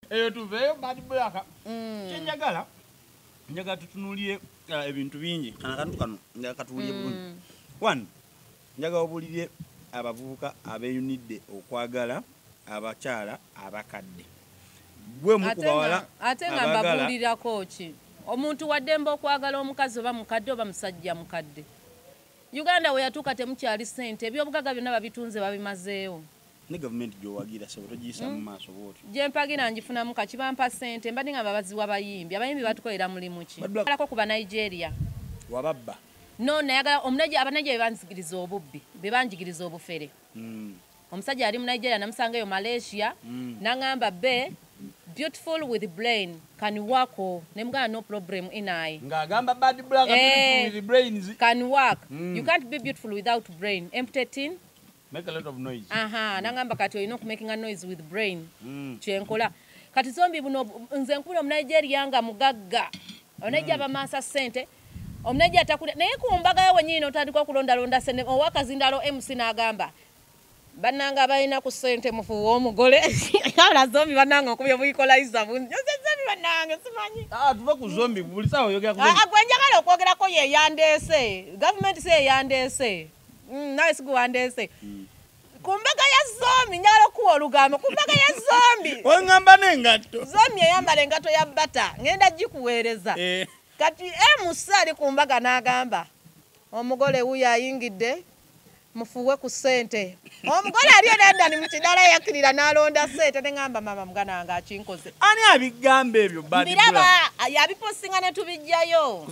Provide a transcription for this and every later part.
eyo tuveeyo bad black mm. kyenjagala njagala tutunulire uh, ebintu bingi kana kantu kano njagala katuwulire mm. bulungi one njagala obulire abavubuka abeyunidde okwagala abakyala abakadde gwe mukubawala ate nga mbabuulirako ki omuntu waddemba okwagala omukazi oba mukadde oba musajja mukadde uganda weyatuuka temukyali sente ebyobugaga byonna babitunze babimazeewo ne gavumenti gyowagira sebo togiyisa mu hmm? maaso bwotyo gyempagira ngifunamu kaki bampa ssente mbadde nga babaziwa abayimbi abayimbi batukolera mulimu ki alako ku banigeria wababba no nayagala omunaja abanaja bebanzigiriza obubbi bebanjigiriza obufere hmm. omusajja yali mu nigeria namusanga eyo malaysia hmm. nangamba be beautiful with brain can work oh. nemugana no problem inai ngagamba bad black eh, beautiful with brains can work mm. you can't be beautiful without brain empty tin make a lot of noise aha mm. nangamba kati olina okumakinga noise with brain mm. kyenkola kati zombi buno nze nkubira omunigeria nga mugagga onaija mm. bamaasa sente omunaija atakula naye ku mbaga yo wenyini notandika okulondalonda sene owakazindalo mc n'agamba bananga balina ku sente mufuuwa omugole ala zombi banange okubya buikolayiza bunzezemi banange simanyi ah, tuva ku zombi bulisawa oyogera ah, gwenjagala okwogerako yeyandeese gavumenti si eyandeese Mm, nawe siguwandeese mm. ku mbaga ya zombi njagala okuwa olugambo ku mbaga ya zombi oŋamba nengatto zombi eyambala engatto ya bata ŋenda gikuweereza eh. kati emusa ali ku mbaga n'agamba omugole wuyo ayingidde mufuwe ku ssente omugole ali enandani mukidala yakirira nalonda sente nengamba mama mugana wange akinkoze ani abigamba ebyo biraba yabiposinga netubijjayo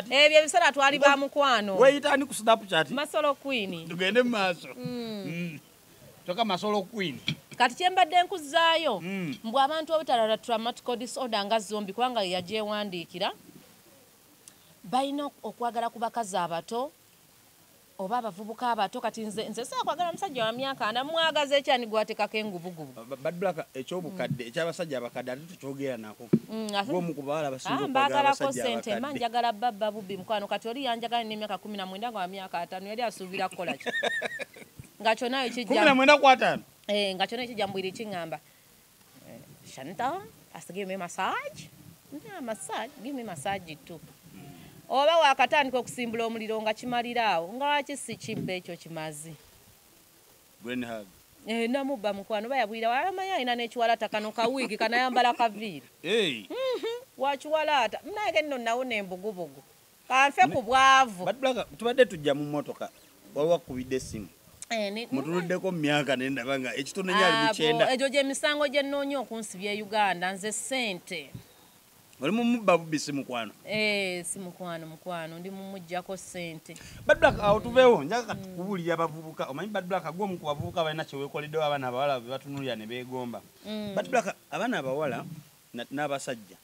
ebyo ebiseera twali ba mukwano weyitani ku snapchat masolo queen tugende mumaaso mm. mm. kyoka masolo queen kati kyembadde nkuzaayo mm. mbu abantu obutalala traumatical disorder nga zombi kubanga yagyewandiikira balina okwagala ku bakazi abato oba abavubuka abato kati nze nze sakwagala musajja wa myaka ana mwagaza ekyani gwatekako enguvugubu bad black ekyobukadde mm. ekyabasajja abakadde ate tukyogera nako mm, gwomu kubawala basinbagalako ah, sente ma njagala babba bubbi mukwano kati oli yanjagala nemyaka kumi na mwenda nga wa myaka atano yali asuubira kukola ki nga kyonayo kijja kumi na mwenda kwatano eh, nga kyona ekijja mbwiri kiŋamba Chantal has to give me massage. Yeah, massage. Give me massage too. Oba wakatandika okusimbula omuliro nga kimalira awo nga waki si kibbe ekyo kimazi. Brain hug. Eh, namubba mukwano oba yagwira walamanya alina n'ekiwalaata kano ka wiigi kanayambala kaviiri. Hey. Mm -hmm. Wakiwalaata. Mnage nno nawona embugubugu. kanfe ku bwavu tubadde tujja mu motoka wawakubidde essimu eh, mutuluddeko mu myaka nendaba nga ekitono enyo ali mukyenda egyo gyemisango gyenoonya okunsibya e uganda nze sente oli mumubba bubbi si mukwano eh, si mukwano mukwano ndi mumujjako sente badrak awo tuveewo njaga katukubuulira mm. abavubuka omanyi badrak gwe omu ku bavubuka balina kyewekoleddewo abaana abawala bebatunulira ne beegomba mm. badrak abaana abawala n'abasajja